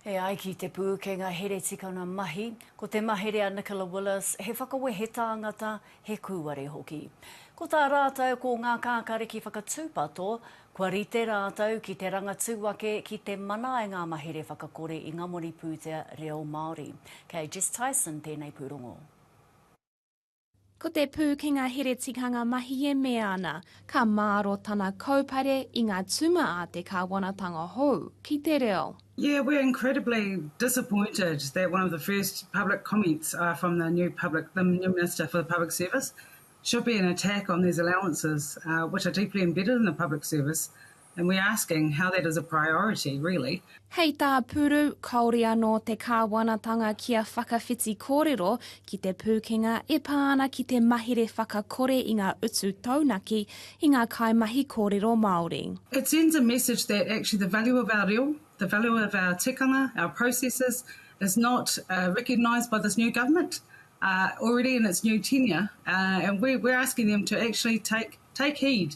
E ai ki te pūkenga heretikanga mahi, ko te mahere a Nicola Willis he whakawehe tāngata, he kūare hoki. Ko tā rātou ko ngā kākāriki whakatūpato, kua rite rātou ki te rangatū ake ki te mana ai ngā mahere whakakore i ngā moni pūtea reo Māori. Kei Jess Tyson tēnei pūrongo. Ko te pūkenga here tikanga mahi e mea ana, ka māro tana kaupare i ngā tuma a te kāwanatanga hou ki te reo. Yeah, we're incredibly disappointed that one of the first public comments from the new public, the new Minister for the Public Service should be an attack on these allowances which are deeply embedded in the public service And we're asking how that is a priority, really. Hei tā Puru, kāore anō te Kāwanatanga kia whakawhiti kōrero ki te pūkenga e pā ana ki te mahere whakakore i ngā utu taunaki i ngā kaimahi kōrero Māori. It sends a message that actually the value of our reo, the value of our tikanga, our processes is not recognised by this new government already in its new tenure and we're asking them to actually take heed.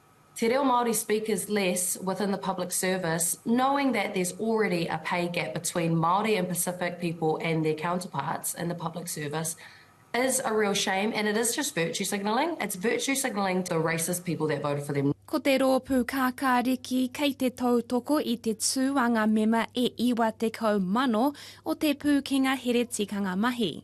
Te reo Māori speakers less within the public service, knowing that there's already a pay gap between Māori and Pacific people and their counterparts in the public service is a real shame and it is just virtue signalling, it's virtue signalling to the racist people that voted for them. Ko te rōpū Kākāriki kei te tautoko i te tū a ngā mema e 90,000 o Te Pūkenga Here Tikanga Mahi.